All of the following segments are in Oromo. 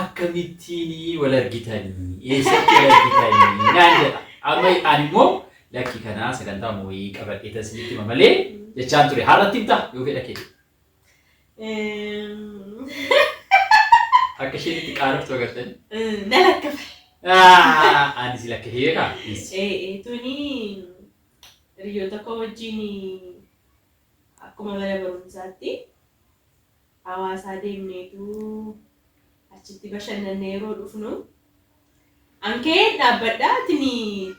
Akkamittiin wal argitanii? Eessatti wal argitanii? naan jedha. Amma ani immoo lakki kanaa sagantaama wayii qabadheetan isinitti hima malee jechaan ture. Har'atti himtaa yoo fedha kee. Akka isheen itti qaaroftu agartanii? Na lakkafe. Ani si lakkafee beekaa? Tuni hiriyoota koo wajjin akkuma mana barumsaatti Hawaasaa deemneetu achitti bashannannee yeroo dhufnu an ka'een dhaabbadha tini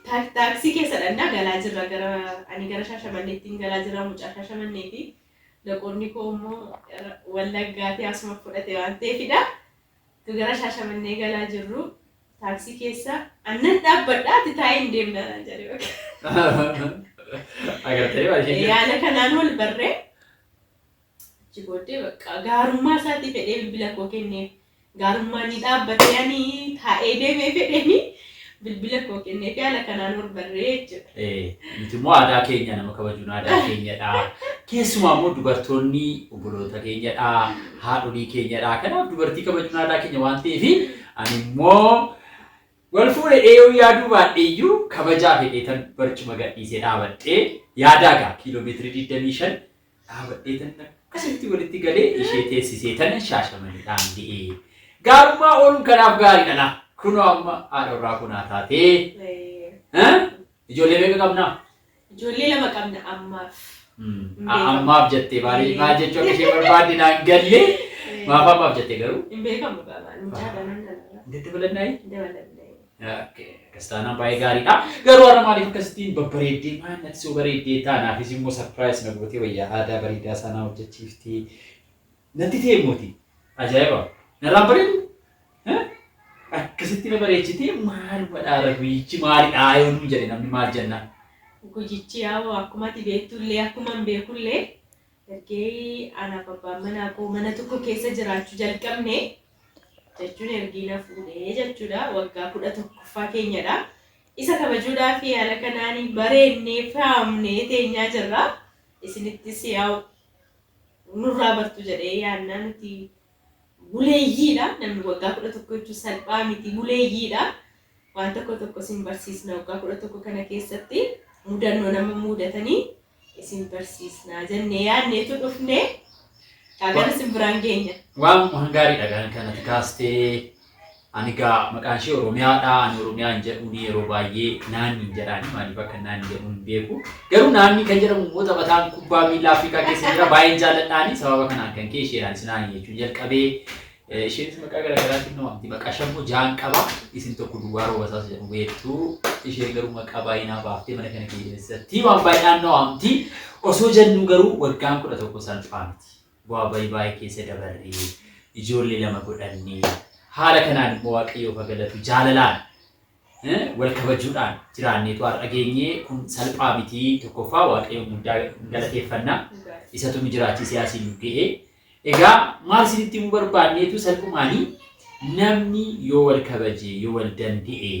taak- taaksii keessa dhannaa galaa jirra gara ani gara shaashamanneettiin galaa jirra mucaa shaashamanneeti loqonni koo immoo gara wallaggaatii asuma fudhate waan ta'eefidha tu gara shaashamannee galaa jirru taaksii keessa annan dhaabbadha ati taa'ee hin deemna naan jedhe bakka Agartee baay'ee. yaala kanaan wal barree Achi booddee bakka gaarummaa isaatiif jedhee bilbila koo kenneef. Gaarummaa ni dhaabbatee ani taa'ee deemee fedheeni bilbila koo kennee fi haala kanaan wal barree jechuudha. Eh, Nuti immoo aadaa keenya nama kabajuun aadaa keenyadha. Keessumaa immoo dubartoonni obboloota keenyadha, haadholii keenyadha. Kanaaf dubartii kabajuun aadaa keenya waan ta'eef ani immoo wal fuudhe eeyuu yaaduu baadhee iyyuu kabajaa fedheetan barcuma gadhiisee dhaabadhee yaadaa gaa kiiloomeetirii 25 dhaabadhee tan akkasitti walitti galee ishee teessisee tanan shaashamanidhaan ga'e. Gaarummaa ooluun kanaaf gaariidha laa. Kunoo amma haadha warraa koo naa taatee. Eh, Ijoollee meeqa qabnaa? Ijoollee lama qabna ammaaf. Mm. A- Ammaaf jettee baay'ee maal jechuu akka ishee barbaadde naan galle. Maaf ammaaf jettee garuu? Hin beekamu gaabaan mucaa ganan nana. Daddabalannaayi? Dabalamne. Akkas taanaan baay'ee gaariidha. Garuu har'a maaliif akkasittiin babbareeddee maal natti soo bareeddee taanaafis immoo sarpiraayis na gootee wayyaa aadaa bareedaa isaa naa hojjechiiftee natti ta'e mooti. Ajaa'iba! Narraan bareedu? Akkasitti na bareechitee maal wadhaara guyyichi maalidhaa yoo nuun jedhe namni maal jenna? Guyyichi yaa'u akkuma ati beektullee akkuma hin beekullee ergee anaaf abbaan manaa koo mana tokko keessa jiraachuu jalqabne jechuun ergii na fuudhee jechuudha. Waggaa kudha tokkoffaa keenyadha. Isa kabajuudhaa fi haala kanaan bareennee faamnee teenyaa jirra. Isinittis yaa'u nurraa bartu jedhee yaannaa nuti buleeyyiidha. Namni waggaa kudha tokko jechuun salphaa miti buleeyyiidha. Waan tokko tokko sin barsiisna waggaa kudha tokko kana keessatti mudannoo nama muudatanii isin barsiisnaa jennee yaadneetu dhufne kaagana isin biraan geenya. Waan waan gaariidha kan kan ati kaastee ani gaa maqaan ishee Oromiyaadha ani Oromiyaa hin jedhuun yeroo baay'ee naanni hin jedhaani maaliif akka naanni jedhuun hin beeku garuu naanni kan jedhamu immoo taphataan kubbaa miilaa Afrikaa keessa jira baay'een jaalladhaani sababa kanaan kan kee isheedhaan sinaan jechuun jalqabee Isheenis maqaa gara garaatiin na waamti. Maqaa shan immoo ja'an qaba. Isin tokko duwwaa roobasaas jedhamu beektu. Isheen garuu maqaa baay'ee naa baaftee mana kana keessatti waan baay'inaan na waamti. Osoo jennuu garuu waggaan kudha tokko salphaa miti. Bu'aa bayii baay'ee keessa dabarree ijoollee lama godhannee haala kanaan immoo waaqayyoof haa galatu jaalalaan wal kabajuudhaan jiraanneetu har'a geenye kun salphaa miti tokkoffaa waaqayyoon guddaa galateeffanna isatu nu jiraachisee asiin nu ga'e egaa maal isinitti himuu barbaanneetu salphumaanii namni yoo wal kabaje yoo wal danda'e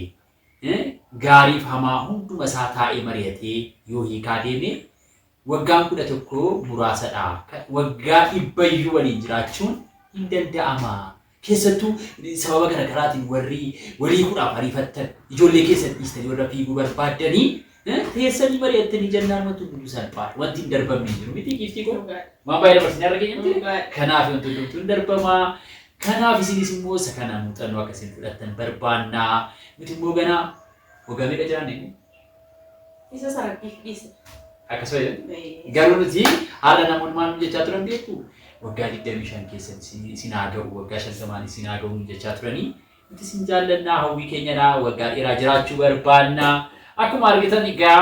gaariif hamaa hunduma isaa taa'ee mari'atee yoo hiikaa deeme Waggaan 11 muraasa dha. Waggaa dhibba iyyuu waliin jiraachuun hin danda'ama. Keessattuu sababa gara garaatiin warri walii kudhaaf ariifattan ijoollee keessan dhiistanii warra fiiguu barbaaddanii teessanii mari'attanii jennaan wanti hundumtuu salphaa dha. Wanti hin darbamne hin jiru miti giiftii koo. Waan baay'ee dabarsinee arra keenya miti. Kanaaf wanti hundumtuu hin darbama. Kanaaf isinis immoo isa kana muuxannoo akka isin fudhattan barbaanna. Nuti immoo ganaa waggaa meeqa jiraanne? Isa sarabbiif dhiise. Akkasuma jedhan. Garuu nuti haala namoonni maal jechaa turan beektu waggaa 25 keessatti isin haa ga'u waggaa 50 isin haa ga'u jechaa turanii nuti isin jaallannaa hawwii keenyadha waggaa dheeraa jiraachuu barbaanna akkuma argitan egaa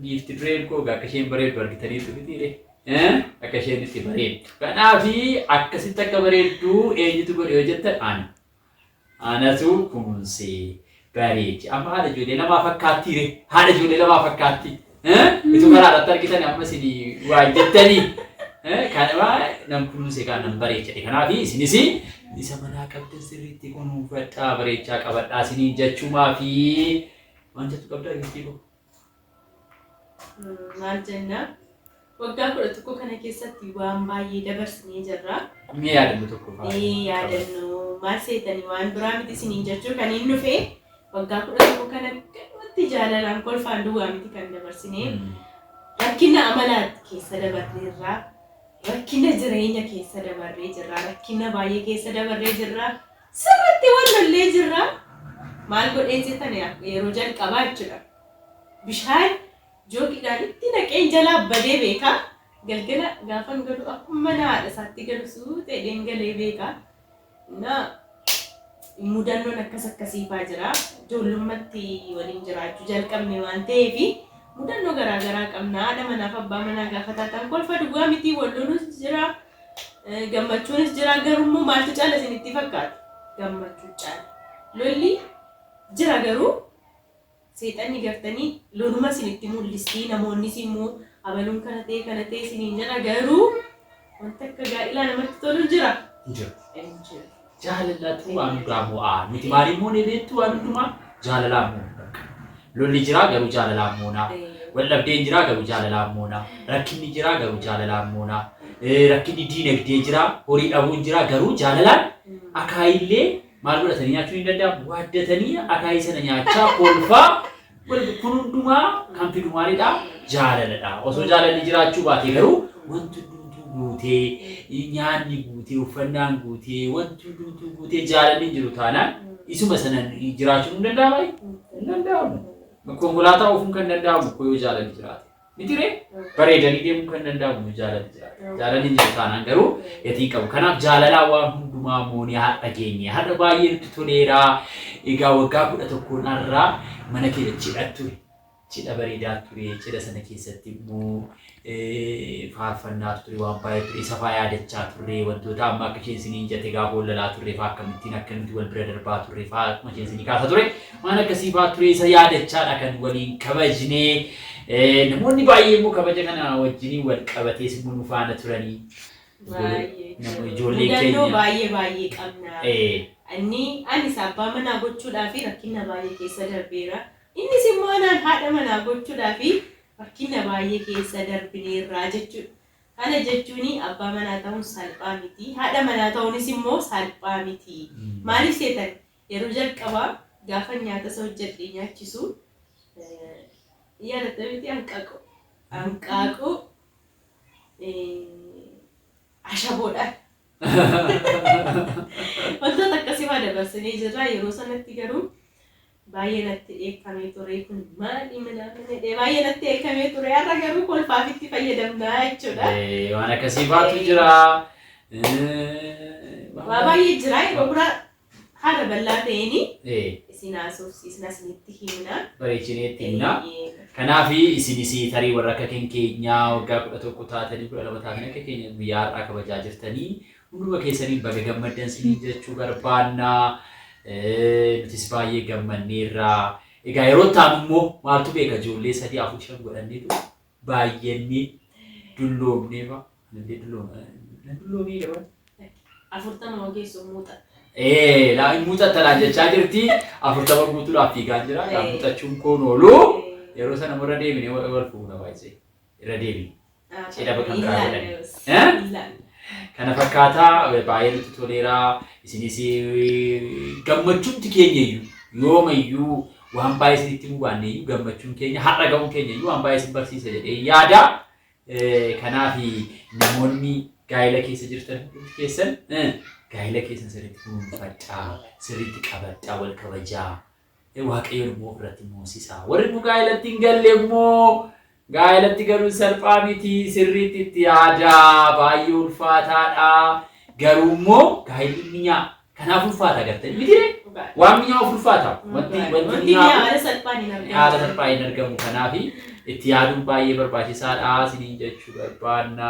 giifti dureen koo akka isheen bareeddu argitanii turitiire akka isheen itti bareeddu kanaafi akkasitti akka bareeddu eenyutu godhe yoo jettan ani Anatu kumunsee bareechi amma haadha ijoollee lamaa fakkaattii ree haadha ijoollee lamaa fakkaatti utuu karaa irratti argitan amma isin waa jettanii kanama nan kunuunse kaan nan bareechate kanaaf isinis isa manaa qabdan sirriitti kunuunfadhaa bareechaa qabadhaa isiniin jechuumaa fi waan jettu qabdaa giiftii koo. Maal jenna? Waggaa kudha tokko kana keessatti waan baay'ee dabarsinee jirra. Mee yaadannoo tokko fa'aa Mee qabadhu. yaadannoo maal seetanii waan biraa miti isiniin jechuu kan hin dhufe waggaa kudha tokko kana galuutti jaalalaan kolfaan duwwaa miti kan dabarsinee. Mm. rakkina amalaa keessa dabarree jirra rakkina jireenya keessa dabarree jirra rakkina baay'ee keessa dabarree jirra Sirritti wal lollee jirra. Maal godhee jetani yeroo jalqabaa jechuudha bishaan joogiidhaan itti naqeen jalaa badee beeka. Galgala gaafan galu akkuma mana haadha isaatti galu suuta jedheen galee beeka. Na mudannoon akkas akkasii faa jira. Ijoollummatti waliin jiraachuu jalqabne waan ta'eef mudannoo garaa garaa qabna. Haadha manaaf abbaa manaa gaafa taatan kolfa duwwaa mitii wal lolus jira. Eh, Gammachuunis jira garuu immoo maaltu caala isinitti fakkaata? Gammachuu caala. Lolli jira garuu seexanni gartanii loluma isinitti mul'istii namoonnis immoo abaluun kana ta'e kana ta'e isiniin jedha garuu wanta akka gaa'ilaa namatti tolu jira. Jira. Hin jiru. Jaalalatu waan hundaa mo'aa nuti maaliin moonee beektu waan hundumaa jaalalaan moona bakka. Lolli jiraa garuu jaalalaan moona. Waldhabdeen jiraa garuu jaalalaan moona. Rakkinni jiraa garuu jaalalaan moona. Eh, Rakkinni diinagdee jiraa horii dhabuun jiraa garuu jaalalaan akaayillee maal godhatanii nyaachuun hin danda'amu. Waaddatanii akaayii sana nyaachaa kolfaa Walitti kun hundumaa kan fidu maalidha? Jaalaladha. Osoo jaalalli jiraachuu baatee garuu wanti hundumtuu guutee, nyaanni guutee, uffannaan guutee, wanti hundumtuu guutee jaalalli hin jiru taanaan isuma sana jiraachuun hin danda'amaa? Hin danda'amu. Konkolaataa oofuun kan danda'amu koo yoo jaalalli jiraate. Mitiree bareedanii deemuu kan danda'amu nu jaalali jira. Jaalalli jiru taanaan garuu gatii qabu. Kanaaf jaalalaa waan hundumaa moonee har'a geenye. Har'a baay'ee nutti toleera. Egaa waggaa kudha tokkoon har'aa mana keenya cidha ture. Cidha bareedaa ture. Cidha sana keessatti immoo faarfannaatu ture waan baay'ee ture. Isa faa yaadachaa turre wantoota amma akka isheen isiniin jette gaafa wal lalaa turre faa akkamittiin akka nuti wal bira darbaa turre faa akkuma isheen isinii kaasa ture. Waan akkasii fa'aa turee isa yaadachaa dha kan waliin kabajne. Namoonni baay'ee immoo kabaja kana wajjiniin wal qabatees immoo nu faana turanii. Baay'ee. Namoonni ijoollee Mudannoo keenya. baay'ee baay'ee qabna. Ee, Inni anis abbaa manaa gochuudhaa fi rakkina baay'ee keessa darbeera. Innis immoo anaan haadha manaa gochuudhaa fi rakkina baay'ee keessa darbineerraa jechuudha. Kana jechuun abbaa manaa ta'uun salphaa miti. Haadha manaa ta'uunis immoo salphaa miti. Maaliif seetan Yeroo jalqabaa gaafan nyaata isa hojjedhee nyaachisu yaadatta miti hanqaaquu. Hanqaaquu ashaboodhaan. Wantoota akkasii waa dabarsinee jirra. Yeroo sanatti garuu baay'ee natti dheekkamee ture kun maali minaamina jedhee baay'ee natti dheekkamee ture har'a garuu kolfaaf itti fayyadamna jechuudha. Eh, Waan akkasii faatu Eh. jira. Eh, waan Waa baay'ee jira yeroo biraa haala bal'aa ta'een Ee, isin haasofsiisna isinitti himna. bareechinee itti himna. Eeyyee. Kanaaf isinis tarii warra akka keenya keenyaa waggaa kudha tokko taatanii kudha lama taatanii akka keenya guyyaa har'aa kabajaa jirtanii hunduma keessanii baga gammaddan isiniin jechuu barbaanna. Eh, Nutis baay'ee gammanneerra. Egaa yeroo taanu immoo maaltu beeka ijoollee sadii afur shan godhanneetu Baay'eennii dulloomnee fa. Nandee dullooma. Na dulloomee daban. Afurtama hoo geessu muuxa. Ee laa hin muuxatta naan jechaa jirti. Afurtama guutuudhaaf fiigaan jira. Kaa muuxachuun koon oolu. Yeroo sana immoo irra deebinee wal wal fuuna baay'isee. Irra deebine. Cidha bakka biraa godhanii. Ilaalle. Kana fakkaataa baay'ee nutti toleera. Isinis gammachuutti keenya iyyuu yoomayyuu waan baay'ee isinitti himuu baanne iyyuu gammachuun keenya har'a ga'uun keenya iyyuu waan baay'ee isin barsiisa jedhee yaada. Eh, Kanaaf namoonni gaa'ela keessa jirtan hundi keessan eh, gaa'ela keessan sirriitti kunuunfadhaa, sirriitti qabadhaa, wal kabajaa. Eh, Waaqayyoon immoo ofirratti moosisaa. Warri immoo gaa'elatti hin galle immoo Gaa'elatti galuun salphaa miti, sirriitti itti yaadaa, baay'ee ulfaataadha. Garuu immoo gaa'elli minyaa kanaaf ulfaata gartanii mitiree? Dhugaadha. Waan minyaa'uuf ulfaata. Wanti Dhugaadha. wanti Wanti minyaa'u mi'aa haala salphaan hin argamu. haala salphaa hin argamu. Kanaaf itti yaaduun baay'ee barbaachisaadha isiniin jechuu barbaanna.